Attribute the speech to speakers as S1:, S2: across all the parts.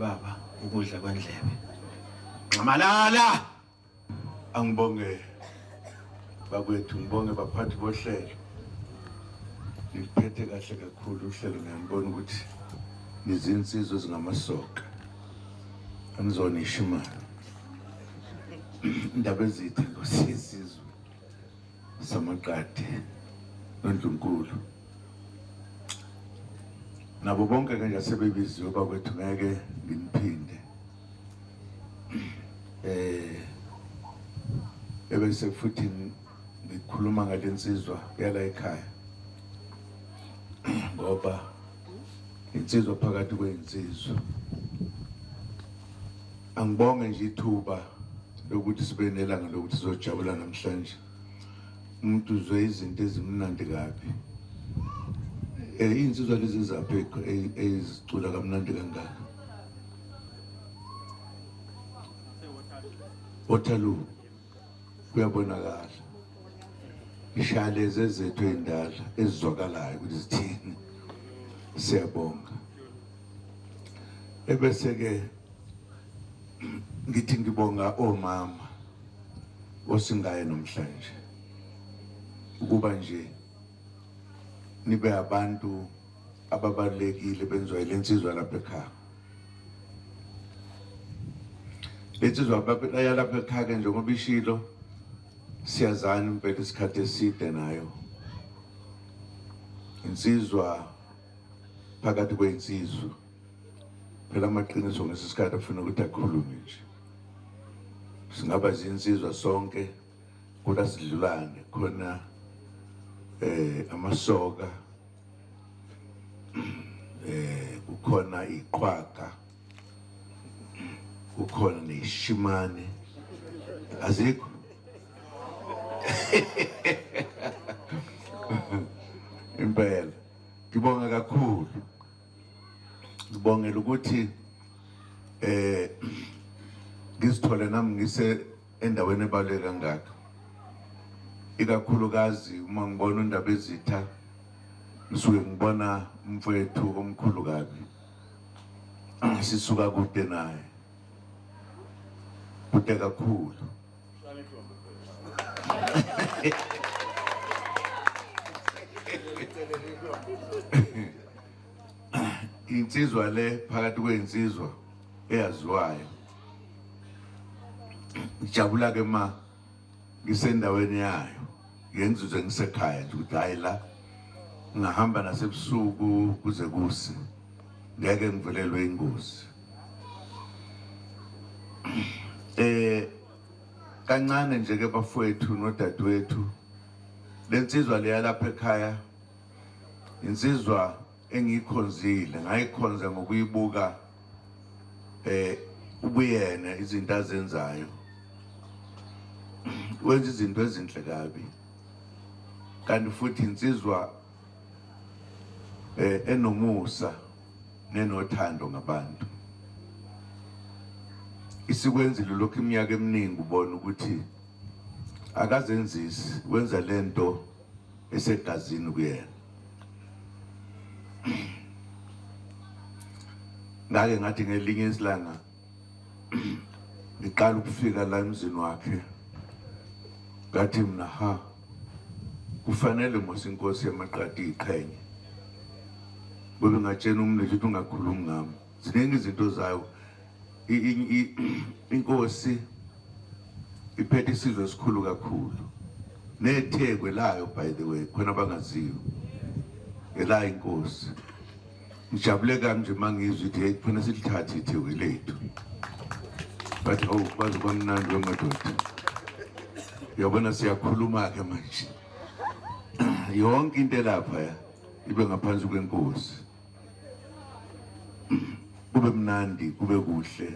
S1: baba ukudla kwendlebe nxamalala angibonge bakwethu ngibonge baphathi bohlelo ngiphethe kahle kakhulu uhlelo ngiyambona ukuthi nizinsizwa ezingamasoka angizonisho imali indaba ezithe ngosizizwe samaqadi nondlunkulu nabo bonke ke nje sebebiziwe bakwethu ngeke ngimphinde eh ebese futhi ngikhuluma ngalensizwa yala ekhaya ngoba insizwa phakathi kwey'nsizwa angibonge nje ithuba lokuthi sibe nelanga lokuthi sizojabula namhlanje umuntu uzwe izinto ezimnandi kabi um iy'nsizwa lezi zaphi ezicula kamnandi kangaka waterloo kuyabonakala ishaya lezi ezethu ey'ndala ezizwakalayo ukuthi zithini siyabonga ebese-ke ngithi ngibonga omama osingaye nomhlanje ukuba nje nibe abantu ababalulekile benziwa yile nsizwa lapha ekhaya le nsizwa yalapha ekhaya-ke njengoba ishilo siyazana impela isikhathi eside nayo insizwa phakathi kwensizwa phela amaqiniso ngesi sikhathi afuna ukuthi akhulume nje singaba zinsizwa sonke kula sidlulane khona eh amasoka eh kukhona iqhwaga kukhona neshimane azikho impela ngibonga kakhulu ngibongela ukuthi eh ngizithole nami ngise endaweni ebaluleke kangaka ikakhulukazi uma ngibona undaba ezitha ngisuke ngibona umfowethu omkhulu kabi sisuka kude naye kude kakhulu insizwa le phakathi kwensizwa eyaziwayo ngijabula ke ma ngisendaweni yayo ngenzuze ngisekhaya nje ukuthi hayi la ngahamba nasebusuku kuze kuse ngeke ngivelelwe ingozi eh kancane nje ke bafowethu nodadewethu lensizwa leyalapha ekhaya insizwa engiyikhonzile ngayikhonza ngokuyibuka eh ubuyena izinto azenzayo wenza izinto ezinhle kabi kanti futhi insizwa eh enomusa nenothando ngabantu isikwenzile lokho iminyaka eminingi ubona ukuthi akazenzisi wenza lento esegazini kuyena ngake ngathi ngelinye isilanga ngiqala ukufika la emzini wakhe ngathi mina ha kufanele mos inkosi yamaqadi iqhenye kube ngatshena umntu ukuthi ungakhulumi ngami ziningi izinto zayo inkosi iphethe isizwe esikhulu kakhulu nethekwe layo by the way khona bangaziyo elayo inkosi ngijabule kanje uma ngizwa ithi heyi khona silithathe ithekwe lethu bathi hawu kwaze kwamnandi wemadoda uyabona siyakhuluma-ke manje yonke into elapha ya ibe ngaphansi kwenkosi kube mnandi kube kuhle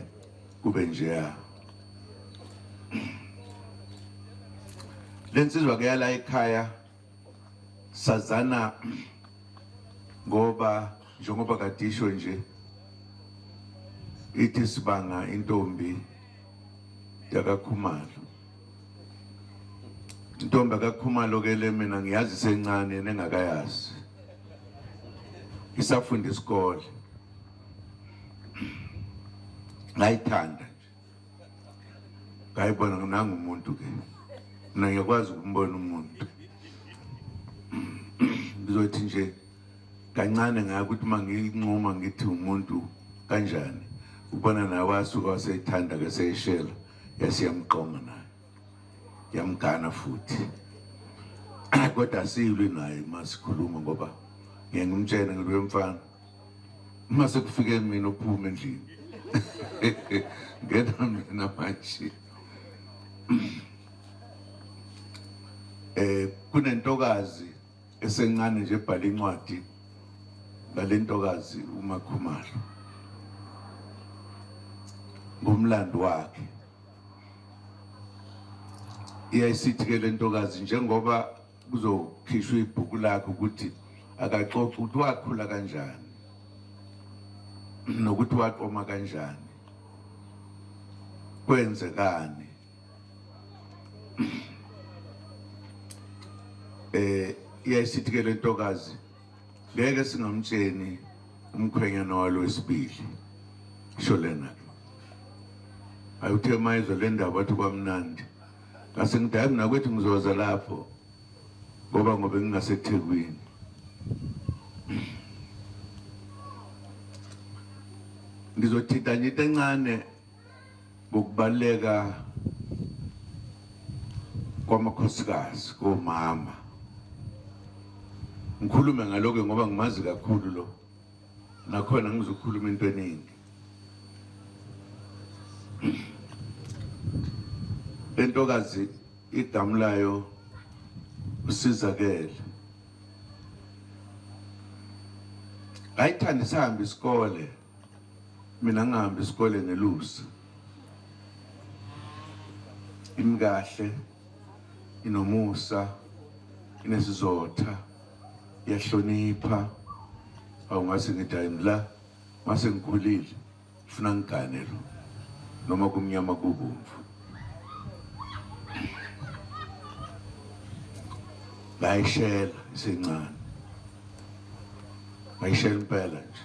S1: kube njeya lensizwa ke yala ekhaya sazana ngoba njengoba kadisho nje ithi sibanga intombi yakakhumalo intombi akakhumalo ke le mina ngiyazi sencane yena engakayazi isafunda isikole ngayithanda nje ngayibona nginanga umuntu ke mina ngiyakwazi ukumbona umuntu ngizothi nje kancane ngaya ukuthi uma nginquma ngithi umuntu kanjani ubona nawe wasuka waseyithanda ke seyishela yasiyamqoma naye yamgana futhi kodwa asiyilwi naye uma sikhuluma ngoba ngeke ngimtshene ngibe mfana uma sekufike mina uphume endlini ngena mina manje eh kunentokazi esencane nje ebhala incwadi ngalentokazi uMakhumalo ngomlando wakhe iyayisithi ke lentokazi njengoba kuzokhishwa ibhuku lakhe ukuthi akaxoxa ukuthi wakhula kanjani nokuthi waqoma kanjani kwenzekani eh iyayisithi ke lentokazi ngeke singamtsheni umkhwenyana walo wesibili sho lena ayuthe mayizwe le ndaba athi kwamnandi ngase ngidala nakwethu ngizoza lapho ngoba ngobe ngingasethekwini ngizothinta nje into encane ngokubaluleka kwamakhosikazi komama ngikhulume ngaloke ngoba ngimazi kakhulu lo nakhona ngizokhuluma into eningi lentokazi igamu layo usizakele ngayithanda sihambe isikole mina ngihambe isikole ngelusi imkahle inomusa inesizotha iyahlonipha awungase ngithi hayi ngila mase ngikhulile funa ngigane lo noma kumnyama kubomvu ngayishela isencane ngayishela impela nje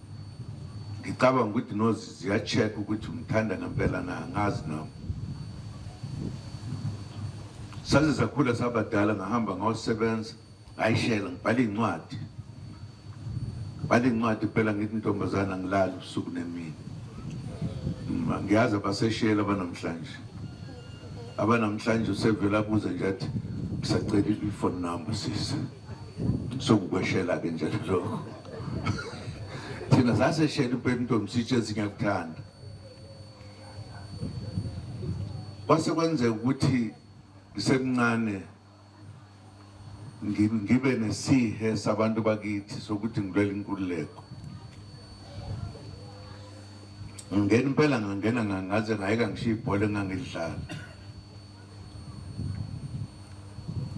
S1: ngicabanga ukuthi nozi ziya-check ukuthi ngithanda ngempela na ngazi nami saze sakhula sabadala ngahamba ngayosebenza ngayishela ngibhala iy'ncwadi ngibhala iy'ncwadi phela ngithi intombazana ngilala usuku nemini ngiyazi abaseshela abanamhlanje abanamhlanje usevele abuze nje athi ngisacela i-phone number sisi sokukweshela ke nje lokho thina saseshela impela intombi sitshe zingakuthanda kwase kwenzeka ukuthi ngisemncane ngibe nesihe sabantu bakithi sokuthi ngilwela inkululeko ngingena impela ngangena ngangaze ngayeka ngishiya ibhola engangilidlala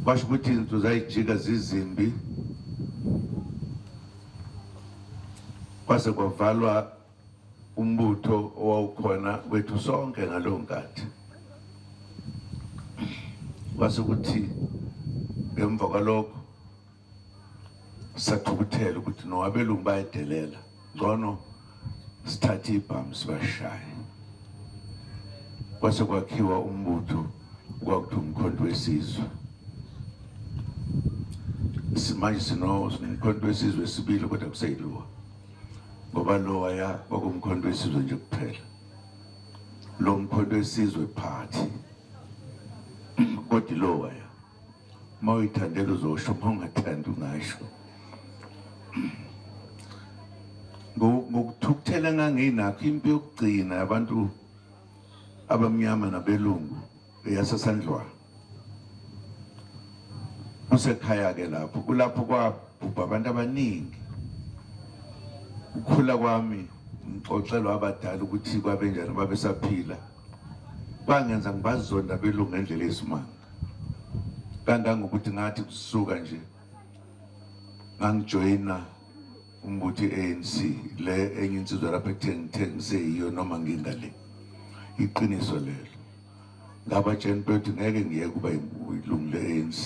S1: kwasho ukuthi izinto zayijika zizimbi kwase kwavalwa umbutho owawukhona kwethu sonke ngaleyo nkathi kwase ukuthi ngemva kwalokho sathukuthela ukuthi no abelungu bayedelela ngcono sithathe ibhamu sibashaye kwase kwakhiwa umbutho kwakuthi umkhonto wesizwe simanje sinomkhonto wesizwe sibili kodwa kuseyiluwa ngoba lowaya kwakumkhonto wesizwe nje kuphela lo mkhonto wesizwe phathi kodwa ilowaya uma uyithandela uzosho uma ungathandi ungasho ngokuthukuthela enganginakho impi yokugcina abantu abamnyama nabelungu eyasesandlwana kusekhaya-ke lapho kulapho kwabhubha abantu abaningi ukukhula kwami ngixoxelwa abadala ukuthi kwabenjani babesaphila bangenza ngibazonda belungu ngendlela yesimanga kangangokuthi ngathi kusuka nje ngangijoyina umbuthi ANC le enye insizwa lapha ekutheni ngithengise yiyo noma ngingale iqiniso lelo ngabatsheni bethu ngeke ngiye kuba ilungu le-ANC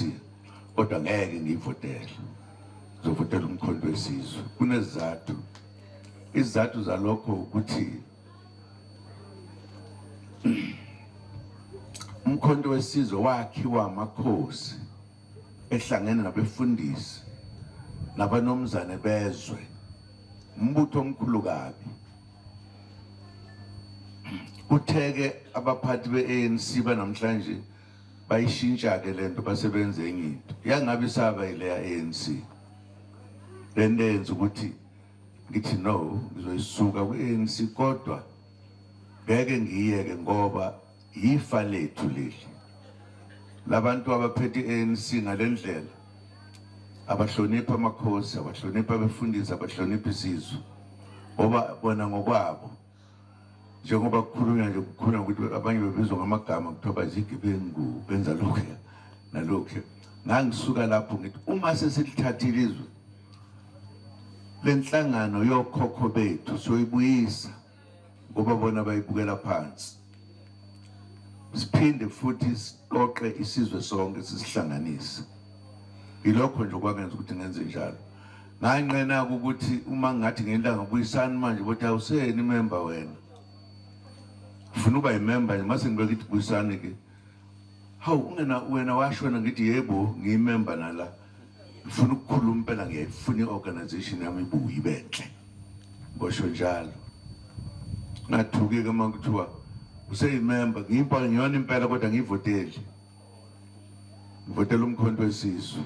S1: kodwa ngeke ngiyivotele ngizovotela umkhonto wesizwe kunezizathu izizathu zalokho ukuthi umkhonto wesizwe wakhiwa amakhosi ehlangene nabefundisi nabanomzane bezwe umbutho omkhulu kabi kutheke abaphathi be-ANC banamhlanje bayishintsha-ke le nto basebenze enye into yangabe isaba yileya-ANC le nto eyenza ukuthi ngithi no ngizoyisuka kwi-anc kodwa ngeke ngiyeke ngoba yifa lethu leli labantu abaphethe i-anc ngale ndlela abahloniphi amakhosi abahloniphi abefundisi abahloniphi isizwe ngoba bona ngokwabo njengoba kukhulunywa nje kukhulunywa ukuthi abanye bebizwa ngamagama kuthiwa bazigebengu benza lokhuya nalokhuya ngangisuka lapho ngithi uma sesilithathile izwe le nhlangano yokhokho bethu soyibuyisa ngoba bona bayibukela phansi siphinde futhi siqoqe isizwe sonke sisihlanganise yilokho nje okwangenza ukuthi ngenze njalo nganqena-ke ukuthi uma ngathi ngentanga buyisani manje ukuthi awuseyeni imemba wena ufuna uba yimemba nje mase ngibeka ithi buyisani-ke hawu wena washona ngithi yebo ngiyimemba nala ngifuna ukukhuluma impela ngiyayifuna i-organization yami ibuye ibe ntle ngosho njalo ngathukeka uma kuthiwa useyimemba ngiyimpa ngiyona impela kodwa ngiyivoteli ngivotela umkhonto wesizwe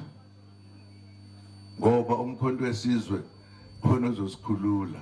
S1: ngoba umkhonto wesizwe khona ozosikhulula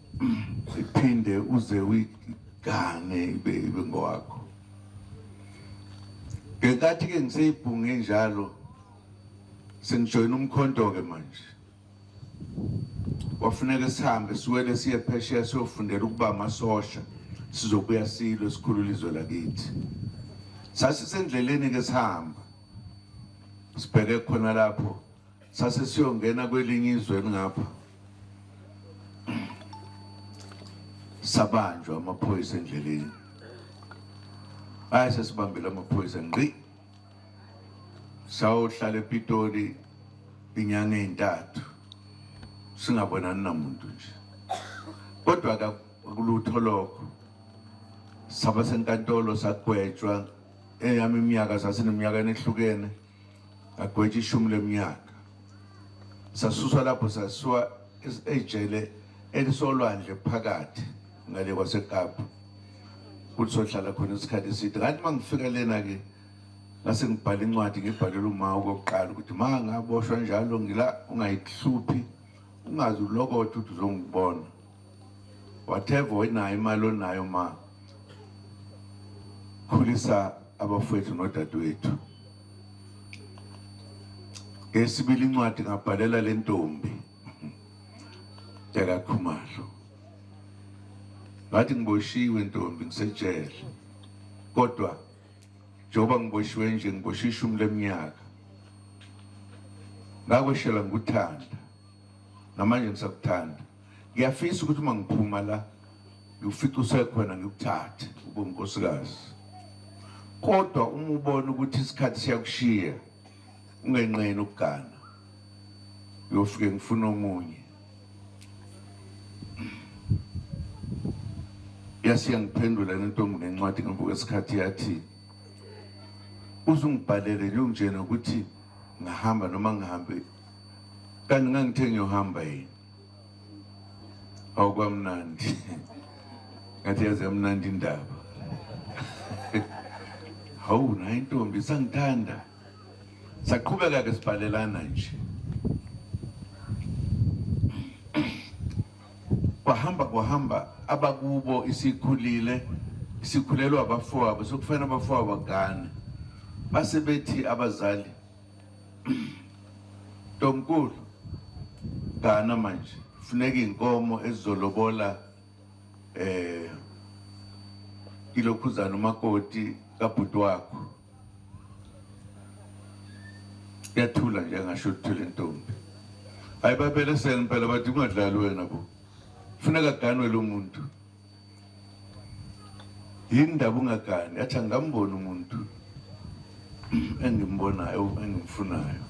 S1: iphinde uze uyigane ibe ibe ngowakho ngenkathi ke ngiseyibhunge njalo sengijoyina umkhonto ke manje kwafuneka sihambe siwele siye phesheya siyofundela ukuba amasosha sizobuya silo esikhulula izwe lakithi sasisendleleni ke sihamba sibheke khona lapho sase siyongena kwelinye izwe elingapha sabanjwa amaphoyisa endleleni ayase sibambile amaphoyisa ngqi sawuhlala epitoli inyanga ezintathu singabonani namuntu nje kodwa akulutho lokho saba senkantolo sagwetshwa eyami iminyaka sasineminyaka enehlukene agwetshe ishumi leminyaka sasuswa lapho sasuwa ejele elisolwandle phakathi ngale kwasekapa ukuthi sohlala khona isikhathi eside ngathi uma ngifika lena-ke ngase ngibhale incwadi ngibhalele uma okokuqala ukuthi ma ngaboshwa njalo ngila ungayihluphi ungazi ulokothi ukuthi uzongibona whatever onayo imali onayo ma khulisa abafowethu nodadewethu ngesibili incwadi ngabhalela le ntombi yakakhumalo ngathi ngiboshiwe ntombi ngisejele kodwa njengoba ngiboshiwe nje ngiboshe ishumi leminyaka ngakweshela ngikuthanda namanje ngisakuthanda ngiyafisa ukuthi uma ngiphuma la ngiwufica usekhona ngikuthathe ube unkosikazi kodwa uma ubona ukuthi isikhathi siyakushiya ungenqeni ukugana uyofike ngifuna omunye yasiya ngiphendula lentombi ngencwadi ngemva kwesikhathi yathi uzungibhalele nje ungitshena ukuthi ngahamba noma ngihambe kanti ngangithe ngiyohamba yini awukwamnandi ngathi yazi yamnandi indaba hawu nayo intombi sangithanda saqhubeka ke sibhalelana nje kwahamba kwahamba abakubo isikhulile isikhulelwa abafowabo sokufanele abafowabo bagane base bethi abazali Ntomkulu Gana manje funeka inkomo ezizolobola eh ilokhuzana umakoti kabhuti wakho yathula nje ngasho ukuthula intombi hayi babelesele impela bathi kungadlali wena bo funeka ganwe lo muntu yini ndaba ungagani athi angamboni umuntu engimbonayo engimfunayo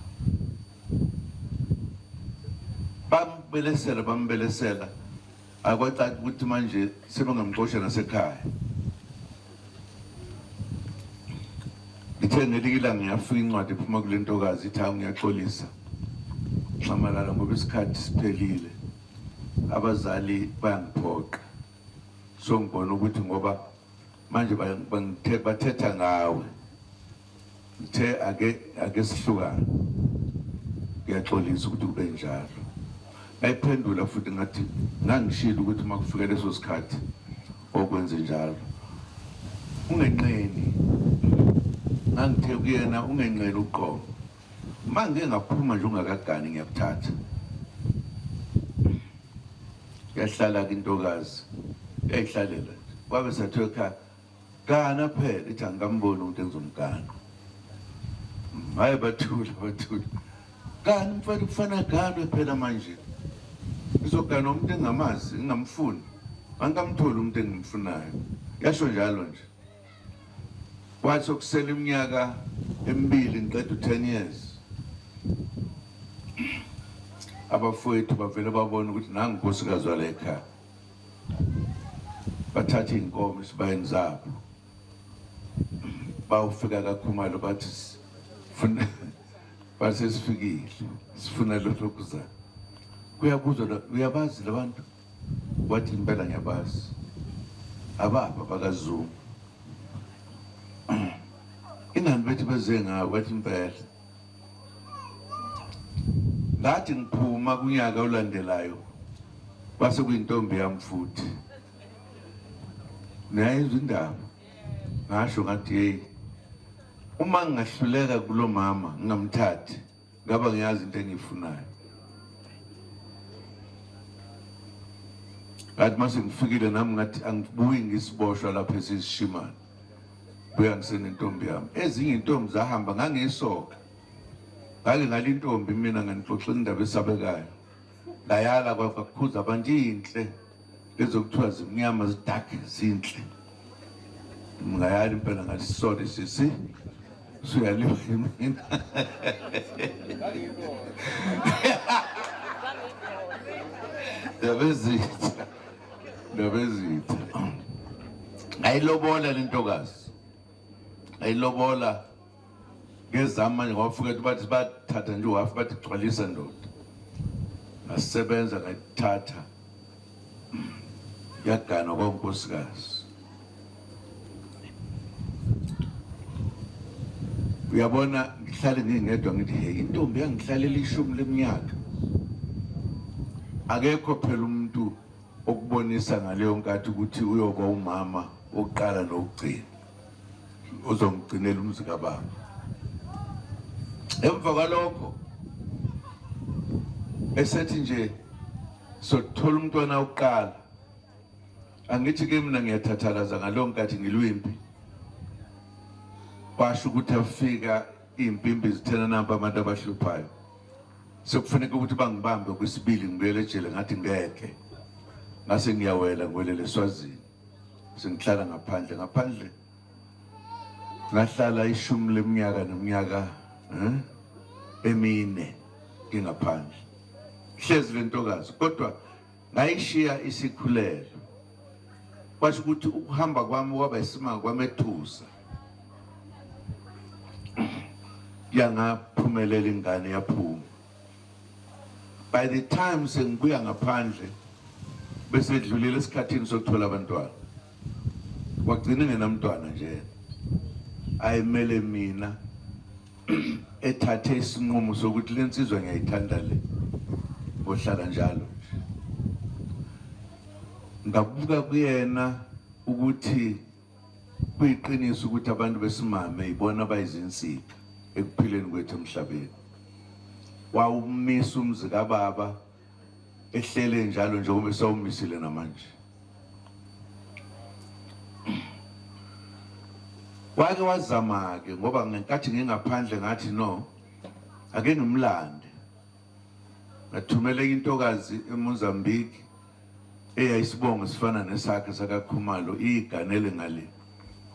S1: bambelesela bambelesela akwacaci ukuthi manje sebengamxosha nasekhaya ngithe ngelinye ilanga ngiyafika incwadi ephuma kule ntokazi ithi hawu ngiyaxolisa nxamalala ngoba isikhathi siphelile abazali bayangiphoqa so ngibona ukuthi ngoba manje bathetha ngawe ngithe ake ake sihlukane ngiyaxolisa ukuthi kube njalo ngayiphendula futhi ngathi ngangishilo ukuthi uma kufika leso sikhathi okwenze njalo ungenqeni ngangithe kuyena ungenqeni uqobo Uma ngike ngaphuma nje ungakagani ngiyakuthatha. Yahlala kintokazi yayihlalela kwabe sathiwa ekhaya gana phela ithi angikamboni ukuthi enza umgano hayi bathula bathula kanti mfana kufana ganwe phela manje izogana umuntu engamazi ingamfuni angikamtholi umuntu engimfunayo yasho njalo nje Kwathi okusele iminyaka emibili ngiqeda u-10 years abafowethu bavele babona ukuthi nangu nkosikazi wale ekhaya bathatha iy'nkomo esibayeni zabo bawufika kakhumalo bathi funa basesifikile sifuna lokhu kuza kuyabuzwa uyabazi labantu Wathi impela ngiyabazi ababa bakaZungu ingani bethi beze ngayo wathi impela ngathi ngiphuma kunyaka olandelayo base kuyintombi yami futhi nayizwa indaba ngasho ngathi yeyi uma ngingahluleka kulo mama ngingamthathi ngaba ngiyazi into engiyifunayo ngathi mase ngifikile nami ngathi angibuyi ngisiboshwa lapha esisishimane buya ngisenentombi yami ezinye intombi zahamba ngangiyisoka ngake ngalintombi mina nganixoxela indaba esabekayo Ngayala kwakukhuza abantu inhle ezokuthiwa zimnyama zidark zinhle. Ngayala impela ngathi sorry sisi suyaliwa yimina. Ndabezitha. Ndabezitha. Ngayilobola lentokazi. Ngayilobola ngezami manje ngawafuketha bathi bathatha nje uhafu bathi gcwalisa ndoda ngasebenza ngayithatha yagana kwankosikazi uyabona ngihlale ngingedwa ngithi hey intombi yangihlalela ishumi leminyaka akekho phela umuntu okubonisa ngaleyo nkathi ukuthi uyoba umama wokuqala nokugcina uzongigcinela umzi kababa emva kwalokho esethi nje sothola umntwana uqala angithi ke mina ngiyathathalaza ngalo nkathi ngilwimpi basho ukuthi afika impimpi zithena namba abantu abahluphayo sekufuneka ukuthi bangibambe kwesibili ngibuyele ejele ngathi ngeke ngase ngiyawela ngibuyelele eswazini sengihlala ngaphandle ngaphandle ngahlala ishumi leminyaka neminyaka eh, emine ngingaphandle hlezi le ntokazi kodwa ngayishiya isikhulelo kwasho ukuthi ukuhamba kwami kwaba isimanga kwamethusa yangaphumelela ingane yaphuma by the time sengibuya ngaphandle bese dlulile esikhathini sokuthola abantwana wagcina ngenamntwana nje ayimele mina ethathe isinqumo sokuthi le nsizwa ngiyayithanda le ngohlala njalo ngabuka kuyena ukuthi Kuyiqiniso ukuthi abantu besimame ibona abayizinsika ekuphileni kwethu emhlabeni. Wawumisa umzi kababa ehlele njalo njengoba esawumisile namanje. Wake wazama-ke ngoba ngenkathi ngingaphandle ngathi no, ake ngimlande. ngathumela enye intokazi eMozambique eyayisibongo sifana nesakhe sakaKhumalo iyiganele ngale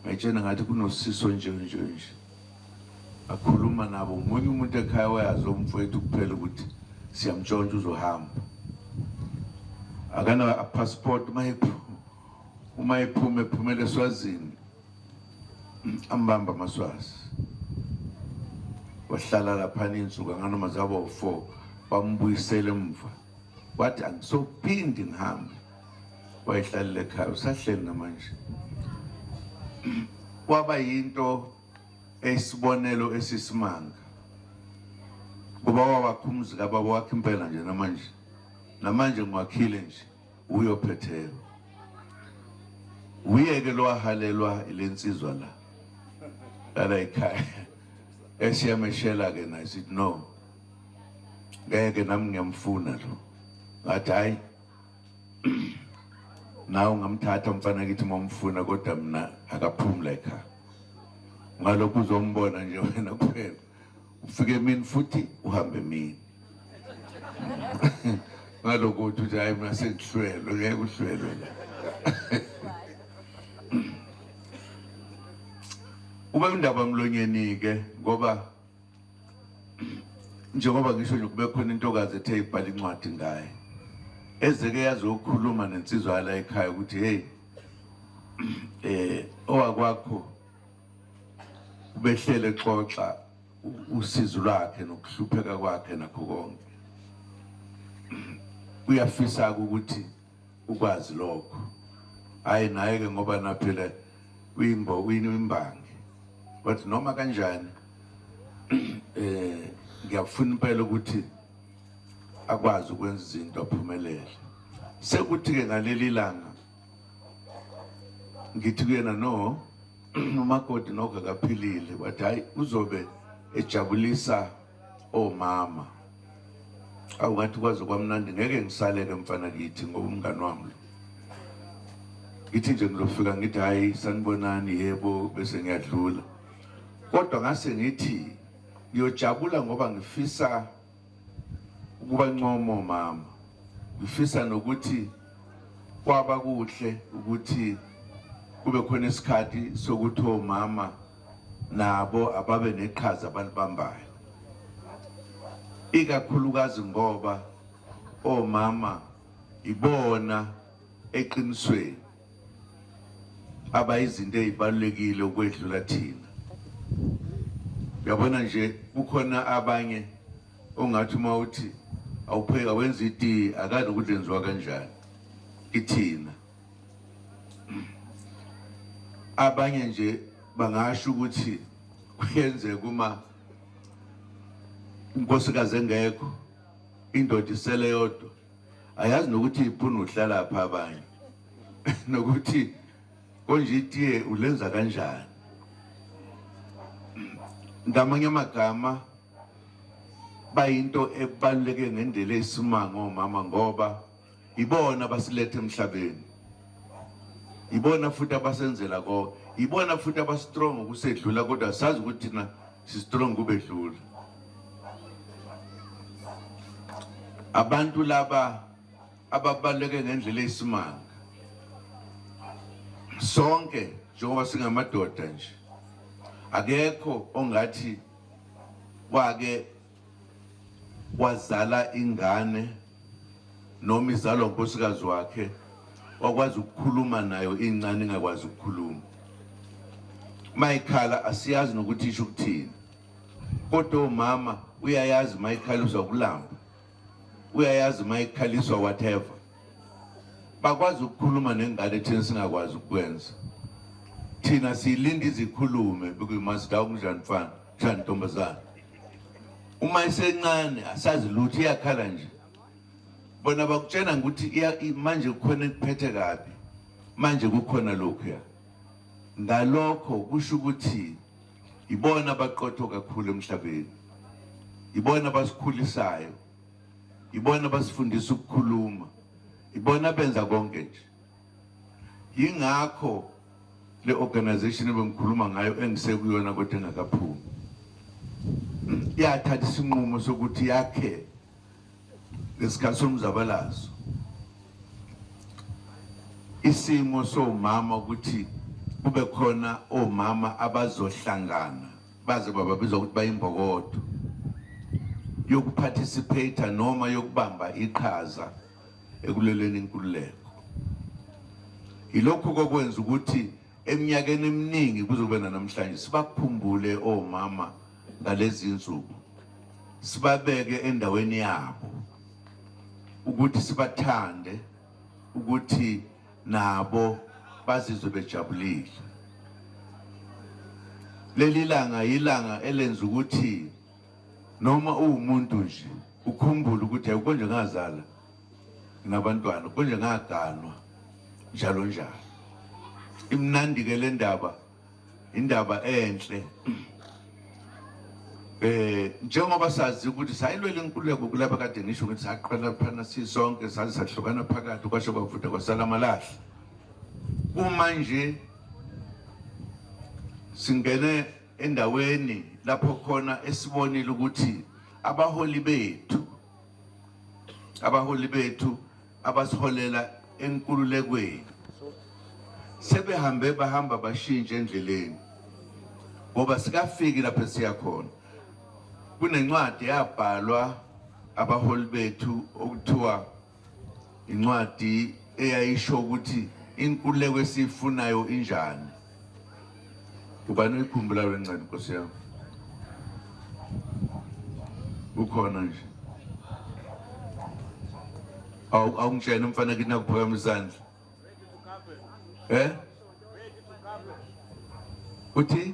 S1: ngayitshena ngathi kunosiso nje nje nje akhuluma nabo umunye umuntu ekhaya wayazi umfowethu kuphela ukuthi siyamtshontsha uzohamba akana passport uma ephuma ephumele eswazini ambamba amaswazi wahlala laphana insuku anganoma zabo 4 bambuyisele emva wathi angisophindi ngihambe wayehlalile ekhaya usahleli namanje kwaba yinto esibonelo esisimanga kuba wawakhumuzi kababa wakhe impela nje namanje namanje ngiwakhile nje wuye ophetheyo wuye-ke lowahalelwa ile nsizwa la lala ekhaya esiyameshela-ke naye sithi no ngeke nami ngiyamfuna lo ngathi hhayi nawe ungamthatha umfana kithi uma umfuna kodwa mna akaphumula ekhaya ngalokhu uzombona nje wena kuphela ufike emini futhi uhambe emini ngaloko uthi uthi hayi mina sengihlwelwe ngeke uhlwelwe la ube undaba mlonyeni-ke ngoba njengoba ngisho nje kube khona intokazi ethe ibhala incwadi ngaye ezeke yazokhuluma nensizwa yala ekhaya ukuthi heyi um owakwakho ubehlele xoxa usizi lwakhe nokuhlupheka kwakhe nakho konke uyafisa ukuthi ukwazi lokho hayi naye ke ngoba naphela uyimbo uyimbangi but noma kanjani eh ngiyafuna impela ukuthi akwazi ukwenza izinto aphumelele sekuthi ke ngaleli langa ngithi kuyena no umakoti nokho akaphilile wathi hhayi uzobe ejabulisa omama awu ngathi kwaze kwamnandi ngeke ngisaleke mfana kithi ngoba umngani wami lo ngithi nje ngizofika ngithi hhayi sanibonani yebo bese ngiyadlula kodwa ngase ngithi ngiyojabula ngoba ngifisa ukuba ncomo mama ngifisa nokuthi kwaba kuhle ukuthi kube khona isikhathi sokuthi omama nabo ababe neqhaza abalibambayo ikakhulukazi ngoba omama ibona eqinisweni abayizinto ezibalulekile ukwedlula thina yabona nje kukhona abanye ongathi uma uthi awupheka wenza itiye akazi ukuthi lenziwa kanjani ithina abanye nje bangasho ukuthi kuyenzeka uma unkosikazi engekho indoda isele yodwa ayazi nokuthi iphunu uhlala pha abanye nokuthi konje itiye ulenza kanjani ngamanye amagama bayinto ebaluleke ngendlela eyisimanga omama ngoba ibona basilethe emhlabeni ibona futhi abasenzela konke ibona futhi abastrong ukusedlula kodwa sazi ukuthi thina sistrong kubedlula abantu laba ababaleke ngendlela eyisimanga sonke njengoba singamadoda nje akekho ongathi wake wazala ingane noma izalwa unkosikazi wakhe wakwazi ukukhuluma nayo incane ingakwazi ukukhuluma mayikhala asiyazi nokuthi isho ukuthini kodwa umama uyayazi mayikhaliswa kulamba uyayazi mayikhaliswa whatever bakwazi ukukhuluma nengane thina singakwazi ukwenza thina siyilinda izikhulume because must down kunjani mfana Shani ntombazana. Uma isencane asazi lutho iyakhala nje. Bona bakutshena ukuthi manje kukhona ekuphethe kabi. Manje kukhona lokhu ya. Ngalokho kusho ukuthi ibona abaqotho kakhulu emhlabeni. Ibona basikhulisayo. Ibona basifundisa ukukhuluma. Ibona benza konke nje. yingakho le organization ebengikhuluma ngayo engisekuyona kodwa engakaphumi yathatha isinqumo sokuthi yakhe ngesikhathi somzabalazo isimo somama ukuthi kube khona omama abazohlangana baze bababizwa ukuthi bayimbokodo yokuphathisiphayitha noma yokubamba iqhaza ekuleleni inkululeko yilokhu kokwenza ukuthi eminyakeni eminingi kuzobe nanamhlanje sibakhumbule omama ngalezi nsuku sibabeke endaweni yabo ukuthi sibathande ukuthi nabo bazizwe bejabulile leli langa yilanga elenza ukuthi noma uwumuntu nje ukhumbule ukuthi hayi konje ngazala nginabantwana konje ngaganwa njalo njalo imnandi-ke le ndaba indaba enhle eh njengoba sazi ukuthi sayilwela inkululeko kulapha kade ngisho ukuthi saqala phana sisonke saze sahlukana phakathi kwasho kwavuda kwasala amalahle uma nje singene endaweni lapho khona esibonile ukuthi abaholi bethu abaholi bethu abasiholela enkululekweni sebehambe bahamba bashintshe endleleni ngoba sikafiki lapho siya khona kunencwadi yabhalwa abaholi bethu okuthiwa incwadi eyayisho ukuthi inkululeko esiyifunayo injani ubani uyikhumbula le ncwadi nkosi yami ukhona nje awu awungitshena umfana kithi nakuphakama isandla eh uthi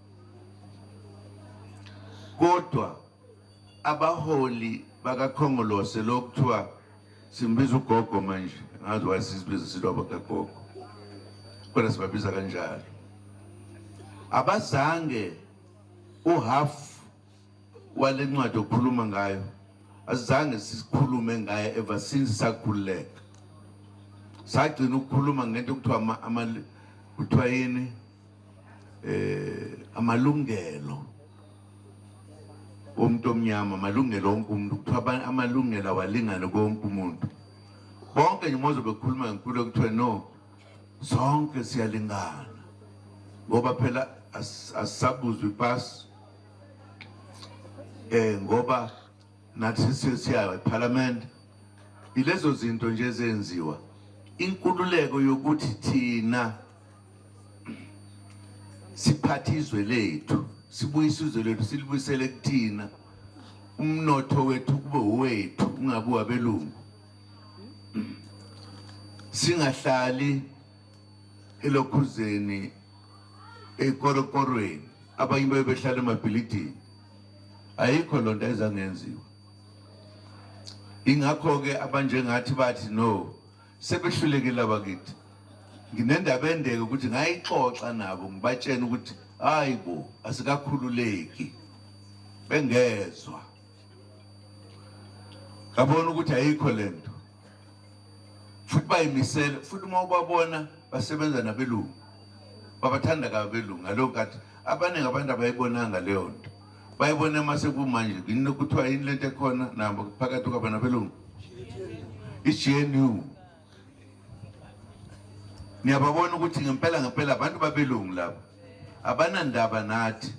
S1: kodwa abaholi bakakhongolose lo kuthiwa simbiza ugogo manje ngazi wayesizibiza sithi abakagogo kodwa sibabiza kanjalo abazange uhaf wale ncwadi okhuluma ngayo asizange sikhulume ngaye ever since sakhululeka sagcina ukukhuluma ngento kuthiwa kuthiwa yini eh amalungelo omuntu omnyama amalungelo onke umuntu kuthiwa amalungelo awalingane konke umuntu bonke nje moze bekhuluma ngenkulu kuthiwa no sonke siyalingana ngoba phela asisabuzwa ipasi eh ngoba nathi sesiya eParliament ilezo zinto nje zenziwa inkululeko yokuthi thina siphathe izwe lethu sibuyise izwe lethu silibuyisele kuthina umnotho wethu kube wethu ungabi wabelungu singahlali elokhuzeni ekorokorweni abanye baye behlala emabhilidini ayikho loo nto ayizangenziwa ingakho-ke abanjengathi bathi no sebehlulekile abakithi nginendaba endeke ukuthi ngayixoxa nabo ngibatshena ukuthi hayi bo asikakhululeki bengezwa ngabona ukuthi ayikho lento futhi bayimisele futhi uma ubabona basebenza nabelungu babathanda kabelungu ngaleyo nkathi abaningi abantu abayibonanga leyo nto bayibone uma sekumanje yini kuthiwa yini lento ekhona nabo phakathi kwabo nabelungu i-gnu niyababona ukuthi ngempela ngempela abantu babelungu labo abanandaba nathi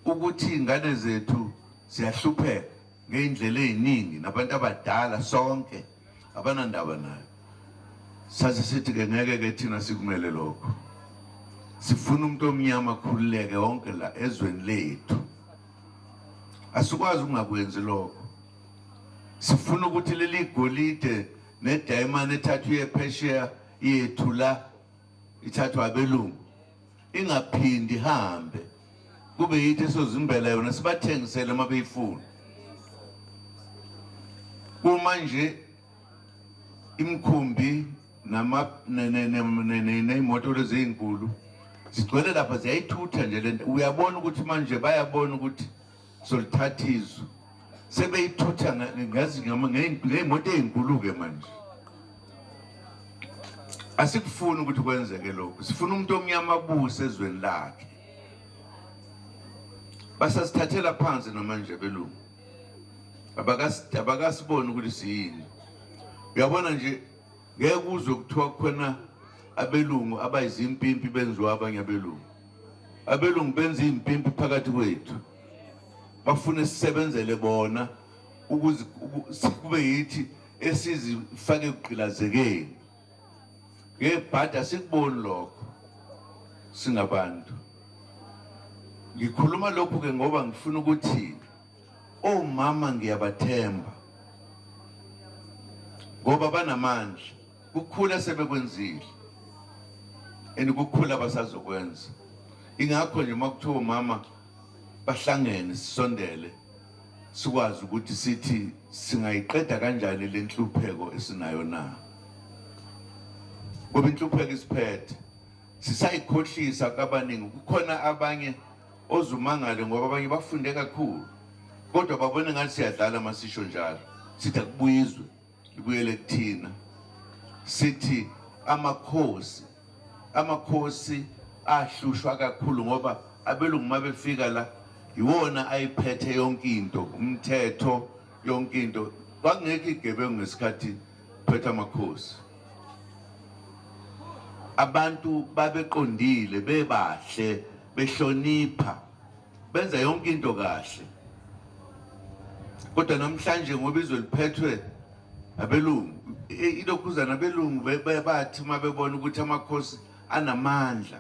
S1: ukuthi ingane zethu ziyahlupheka ngey'ndlela ey'ningi nabantu abadala sonke abanandaba nayo sathi sithi ke ngeke ke thina sikumele lokho sifuna umuntu omnyama akhululeke wonke la ezweni lethu asikwazi ukungakwenzi lokho sifuna ukuthi leli golide nedayimane ethathwa iye phesheya yethu la ithathwa abelungu ingaphindi ihambe kube yithi esozimbela yona sibathengisele uma beyifuna uma nje imkhumbi ney'moto lezi ey'nkulu zigcwele lapha ziyayithutha nje lento uyabona ukuthi manje bayabona ukuthi solithatha izwe sebeyithutha ngazi ngey'moto ey'nkulu-ke manje asikufuni ukuthi kwenzeke lokhu sifuna umuntu omnyama abuse ezweni lakhe basasithathela phansi namanje belungu abakasiboni ukuthi siyini uyabona nje ngeke uzwe kuthiwa khona abelungu abayizimpimpi benziwa abanye abelungu abelungu benza impimpi phakathi kwethu bafune sisebenzele bona ukuze kube yithi esizifake kugqilazekeni ngebhadi asikuboni lokho singabantu ngikhuluma lokhu ke ngoba ngifuna ukuthi omama ngiyabathemba ngoba banamandla kukhula sebekwenzile and kukhula basazokwenza ingakho nje uma kuthiwa mama bahlangene sisondele sikwazi ukuthi sithi singayiqeda kanjani le nhlupheko esinayo na ngoba inhlupheko isiphethe sisayikhohlisa kabaningi kukhona abanye ozumangale ngoba abanye bafunde kakhulu kodwa babone ngathi siyadlala masisho njalo sithi akubuyizwe ibuyele kuthina sithi amakhosi amakhosi ahlushwa kakhulu ngoba abelungu uma befika la yiwona ayiphethe yonke into umthetho yonke into kwakungekho igebengu ngesikhathi phetha amakhosi abantu babeqondile bebahle behlonipha benza yonke into kahle kodwa namhlanje ngoba izwe liphethwe abelungu ilokhuzana abelungu bathi uma bebona ukuthi amakhosi anamandla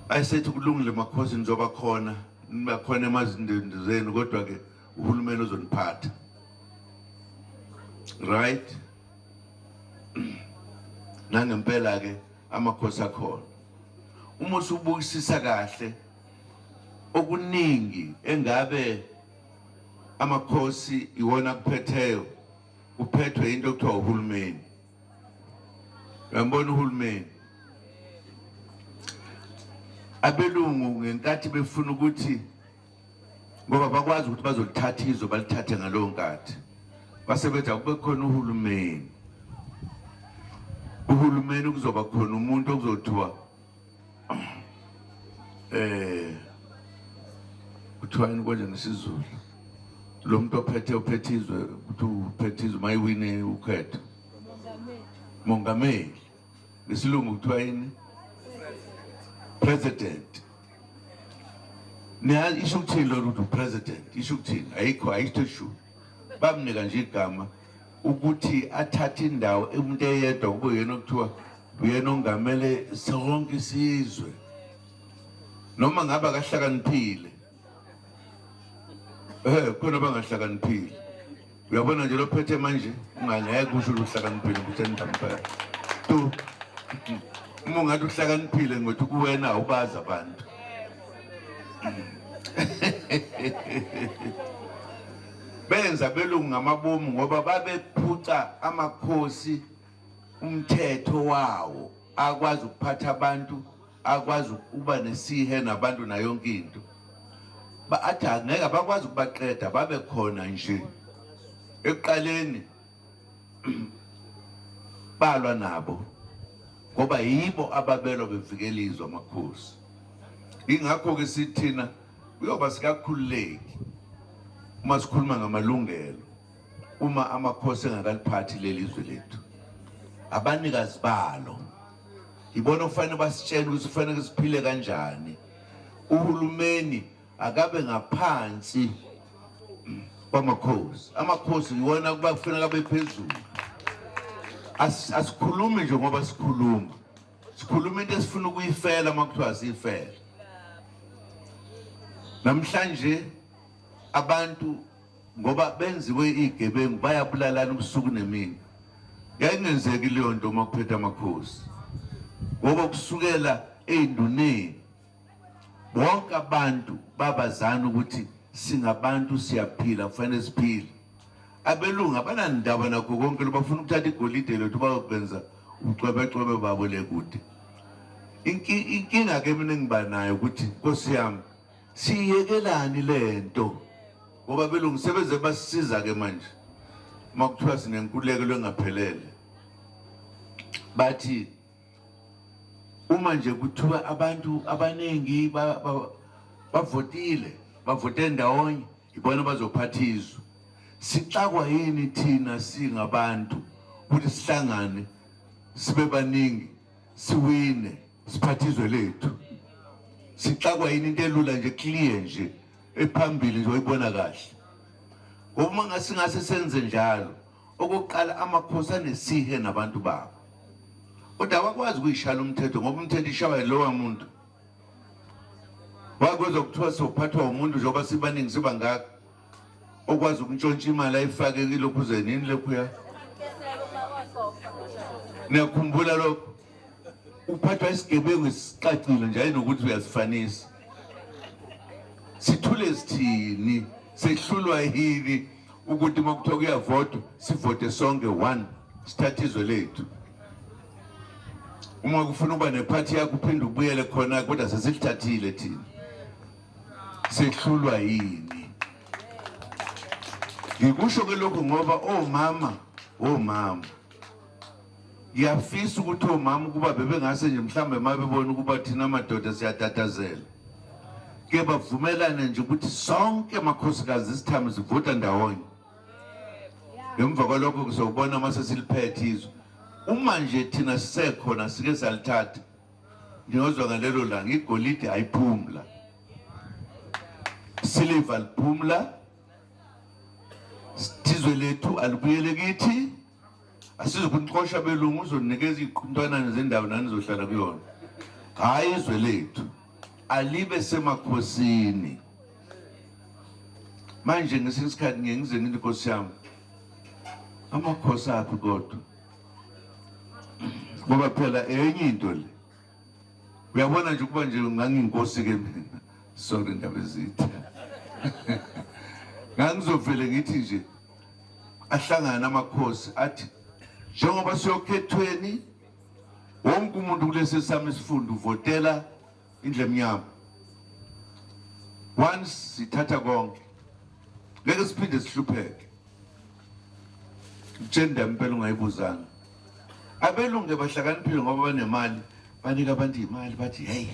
S1: ayisethi kulungile makhosi nizoba khona nibakhona emazindeni zenu kodwa-ke uhulumeni uzoniphatha right nangempela-ke amakhosi akhona uma usubukisisa kahle okuningi engabe amakhosi iwona kuphetheyo uphethwe into okuthiwa uhulumeni uyambona uhulumeni abelungu ngenkathi befuna ukuthi ngoba bakwazi ukuthi bazolithatha izwe balithathe ngalowo nkathi basebenza kube khona uhulumeni uhulumeni kuzoba khona umuntu okuzothiwa eh kuthiwa yini konje ngesizulu lo muntu ophethe uphethe izwe ukuthi uphethe izwe mayiwine ukhetho mongameli ngesilungu kuthiwa yini president niyazi isho ukuthini lolu ukuthi upresident isho ukuthini ayikho ayikho ishu bamnika nje igama ukuthi athathe indawo umuntu eyedwa kube yena okuthiwa uyena ongamele sonke isizwe noma ngabe akahlakaniphile Eh khona bangahlakaniphile. Uyabona nje lophethe manje ungangeke kusho ukuhlakaniphile ukuthi endampela. Tu uma ungathi uhlakaniphile ngothi kuwena ubazi abantu. benza belungu ngamabomu ngoba babephuca amakhosi umthetho wawo akwazi ukuphatha abantu akwazi ukuba nesihe nabantu nayonke into athi angeke abakwazi ukubaqeda babe khona nje ekuqaleni balwa nabo ngoba yibo ababelwa bevikela izwe amakhosi ingakho-ke sithina kuyoba sikakhululeki uma sikhuluma ngamalungelo uma amakhosi engakaliphathi leli zwe lethu abanikazi balo yibona okufanele basitshele ukuthi kufanele siphile kanjani uhulumeni akabe ngaphansi kwamakhosi amakhosi yiwona kuba kufanele abe phezulu asikhulumi nje ngoba sikhuluma sikhuluma into esifuna ukuyifela uma kuthiwa siyifela namhlanje abantu ngoba benziwe igebengu bayabulalana ubusuku nemini yayingenzeki leyo nto uma kuphethe amakhosi ngoba kusukela ey'nduneni bonke abantu babazana ukuthi singabantu siyaphila kufanele siphile abelungu abanandaba nakho konke lobafuna ukuthatha igolide lethu bayokwenza ucwebecwebe babo le kude inkinga ke mina ngiba nayo ukuthi nkosi yami siyekelani lento ngoba belungu sebeze basisiza ke manje makuthiwa sinenkululeko lwengaphelele bathi uma nje kuthiwa abantu abaningi bavotile bavote ndawonye ibona bazophatha izwe sixakwa yini thina singabantu ukuthi sihlangane sibe baningi siwine siphathe izwe lethu sixakwa yini into elula nje clear nje ephambili nje oyibona kahle ngoba uma ngasingase senze njalo okokuqala amakhosi anesihe nabantu babo kodwa awakwazi ukuyishala umthetho ngoba umthetho ishawa yilowa muntu wakwezokuthiwa sophathwa umuntu njengoba sibaningi sibangaka okwazi ukuntshontsha imali ayifake kilokhuzeni yini lokhuya niyakhumbula lokho uphathwa isigebengu esicacile nje ayinokuthi uyasifanisa sithule sithini sehlulwa yini ukuthi uma kuthiwa kuyavotwa sivote sonke one sithathe izwe lethu uma kufuna uba nephathi yakho uphinde ubuyele khona kodwa sesilithathile thina sehlulwa yini ngikusho ke lokhu ngoba omama oh, omama oh, ngiyafisa ukuthi omama oh, ukuba bebengase nje mhlawumbe uma bebona ukuba thina madoda siyatatazela ke bavumelane nje ukuthi sonke amakhosikazi isithami sivota ndawonye ngemva kwalokho kuzobona uma sesiliphethe izwe uma nje thina sisekhona sike salithatha Niyozwa ngalelo langa igolide ayiphumla, siliva liphumla, sizwe lethu alibuyele kithi. Asizukunixosha belungu, uzonikeza iy'ntwanane zendawo nanizohlala kuyona, hhayi izwe lethu alibe semakhosini. Manje ngesinye isikhathi ngiye ngize ngithi nkosi yami amakhosi aphi kodwa ngoba phela enye into le uyabona nje ukuba nje ngangiyinkosi-ke mina sorry ndaba ezitha ngangizovele ngithi nje ahlangane amakhosi athi njengoba siyokhethweni wonke umuntu kulesi sami isifundo uvotela indle emnyama once sithatha konke ngeke siphinde sihlupheke utshenda impela ungayibuzanga abelunge bahlakaniphile ngoba banemali banika abantu imali bathi hey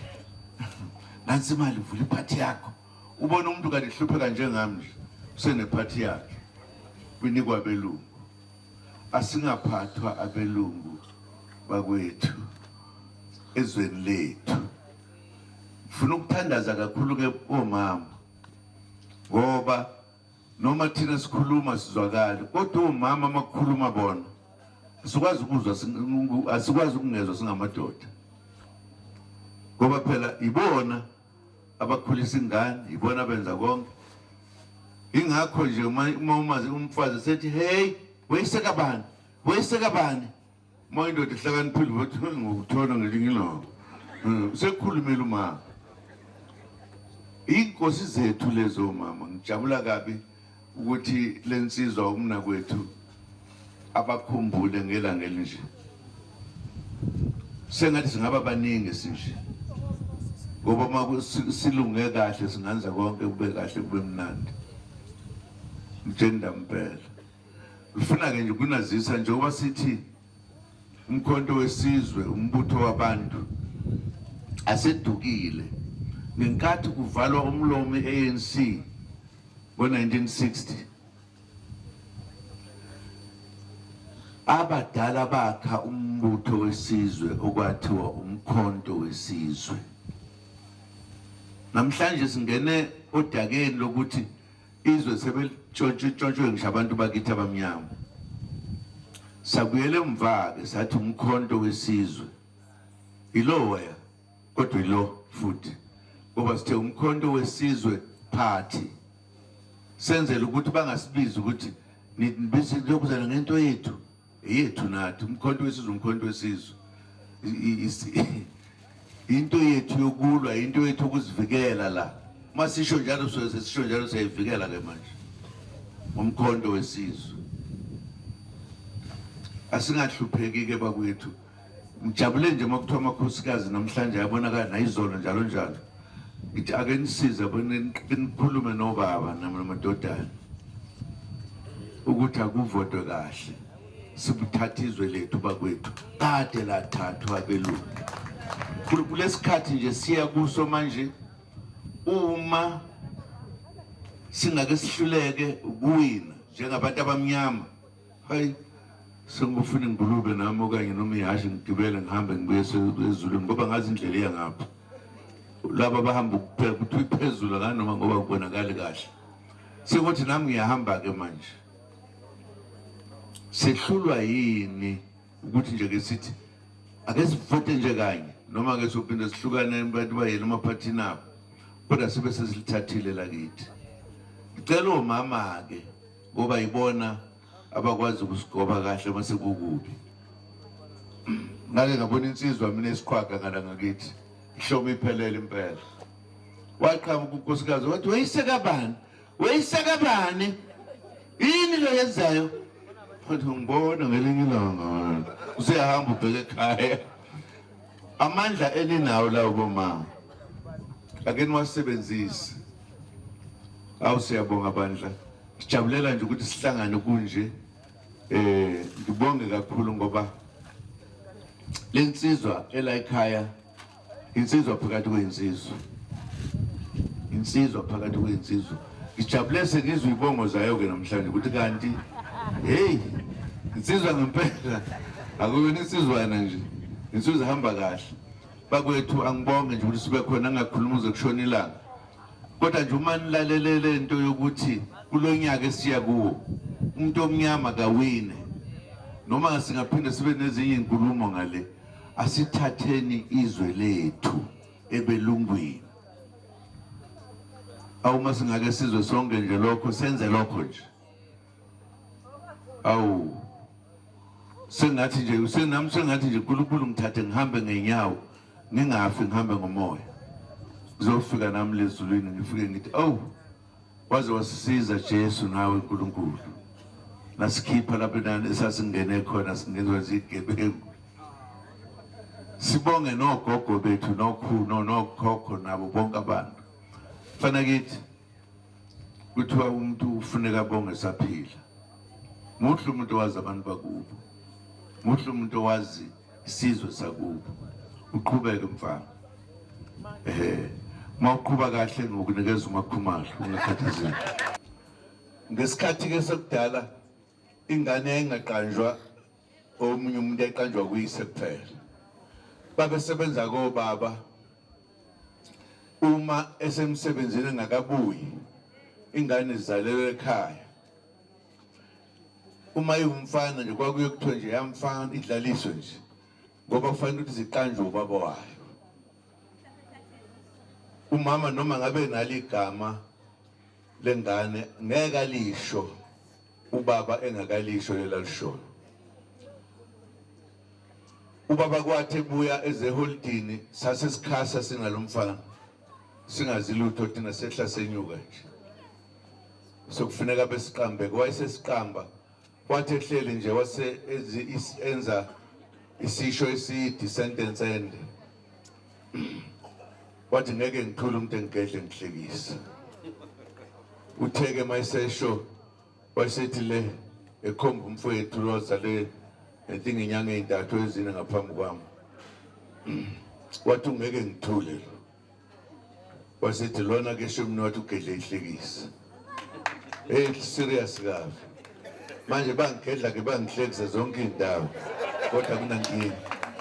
S1: nansi imali vula iphathi yakho ubona umuntu kanti hlupheka njengami nje usenephathi yakhe kwinikwa belungu asingaphathwa abelungu bakwethu ezweni lethu ngifuna ukuthandaza kakhulu ke omama ngoba noma thina sikhuluma sizwakali kodwa omama amakukhuluma bona sikwazi ukuzwa asikwazi ukungezwa singamadoda ngoba phela ibona abakhulisa ingane yibona benza konke ingakho nje uma umazi umfazi sethi hey wayiseka bani wayiseka bani uma indoda ihlakaniphile ukuthi ngokuthola ngelinye ilanga hmm, sekukhulumile umama iy'nkosi zethu lezo mama ngijabula kabi ukuthi le nsizwa umnakwethu abakhumbule ngelanga elinje sengathi singaba baningi sinje ngoba uma silunge kahle singanza konke kube kahle kube mnandi mjenda mpela ngifuna-ke nje ukunazisa njengoba sithi umkhonto wesizwe umbutho wabantu asedukile ngenkathi kuvalwa umlomo i-anc ngo-1960 abadala bakha umbutho wesizwe okwathiwa umkhonto wesizwe namhlanje singene odakeni lokuthi izwe sebelitshontshwe ngisho abantu bakithi abamnyama sabuyele emva-ke sathi umkhonto wesizwe iloya kodwa ilo futhi ngoba sithe umkhonto wesizwe party senzele ukuthi bangasibizi ukuthi nibize lokuzana ngento yethu yethu nathi umkhonto wesizwe umkhonto wesizwe into yethu yokulwa into yethu ukuzivikela la uma sisho njalo sisho njalo siyayivikela ke manje umkhonto wesizwe asingahlupheki ke bakwethu Ngijabule nje uma kuthiwa amakhosikazi namhlanje ayabonakala nayizolo njalo njalo. Ngithi ake nisize nikhulume nobaba namadodana ukuthi akuvotwe kahle sibuthatha izwe lethu bakwethu kade lathathwa belungu kulesikhathi nje siya kuso manje uma singake sihluleke kuwina njengabantu abamnyama hayi sengibufuna ingulube nami okanye noma ihhashi ngigibele ngihambe ngibuye ezulwini ngoba ngazi indlela iya ngapha laba bahamba kuphela kuthi iphezulu kanoma ngoba kubonakali kahle sekuthi nami ngiyahamba-ke manje sehlulwa yini ukuthi nje-ke sithi ake sivote nje kanye noma ke sophinde sihlukane abantu bayena emaphathini abo kodwa sibe sesilithathile lakithi ngicela omama-ke ngoba yibona abakwazi ukusigoba kahle uma sekukubi ngake ngabona insizwa mina esiqhwaga ngala ngakithi ihloma iphelele impela waqhamuka unkosikazi wathi weyisekabani weyisekabani yini lo yenzayo wathi ngibona ngelinye ilanga usehamba ubheke ekhaya Amandla eninawo lawo bomama ake niwasebenzise. Awu siyabonga bandla. Sijabulela nje ukuthi sihlangane kunje. Eh ngibonge kakhulu ngoba lensizwa elayikhaya insizwa phakathi kwensizwa. Insizwa phakathi kwensizwa. Ngijabule sengizwa ibongo zayo-ke namhlanje ukuthi kanti heyi insizwa ngempela akuyona insizwana nje insizwa ihamba kahle bakwethu angibonge nje ukuthi sibe khona angakhuluma uze kushona ilanga kodwa nje uma nilalelele into yokuthi kulo nyaka esiya kuwo umuntu omnyama kawine noma singaphinde sibe nezinye inkulumo ngale asithatheni izwe lethu ebelungwini awuma singake sizwe sonke nje lokho senze lokho nje awu sengathi nje senami sengathi nje uNkulunkulu ngithathe ngihambe ngenyawo ngingafi ngihambe ngomoya ngizofika nami lezulwini ngifike ngithi awu Waze wasisiza Jesu nawe uNkulunkulu. Nasikhipha lapho nani esasingene khona singenziwa zigebengu. Sibonge nogogo bethu nokhu nokhokho nabo bonke abantu. Fana kithi kuthiwa umuntu ufuneka bonge saphila. Muhle umuntu wazi abantu bakubo. Muhle umuntu wazi sizwe sakubo uqhubeke mfana eh mawuqhuba kahle ngokunikeza umakhumalo ungakhathazeki ngesikhathi ke sekudala ingane yayingaqanjwa omunye umuntu eqanjwa kuyise kuphela babesebenza kobaba uma esemsebenzini engakabuyi ingane zizalelwe ekhaya uma iwumfana nje kwakuye kuthiwe nje yamfana idlaliswe nje ngoba kufanele ukuthi ziqanjwe ubaba wayo umama noma ngabe nalo igama lengane ngeke alisho ubaba engakalisho lelalishoyo ubaba kwathi ebuya ezeholidini sase sikhasa singalomfana singazi lutho thina sehla senyuka nje sokufuneka besiqambe wayesesiqamba wathi ehleli nje wase enza isisho eside sentence ende wathi ngeke ngithule umuntu engigedle ngihlekise utheke mayisesho wayesethi le ekhomba umfowethu lozale I think inyanga ezintathu ezine ngaphambi kwami wathi ungeke ngithule lo wasethi lona ke shumi nothi ugedle ihlekisa hey serious kabi manje bangigedla ke bangihlekisa zonke izindawo kodwa kunankinga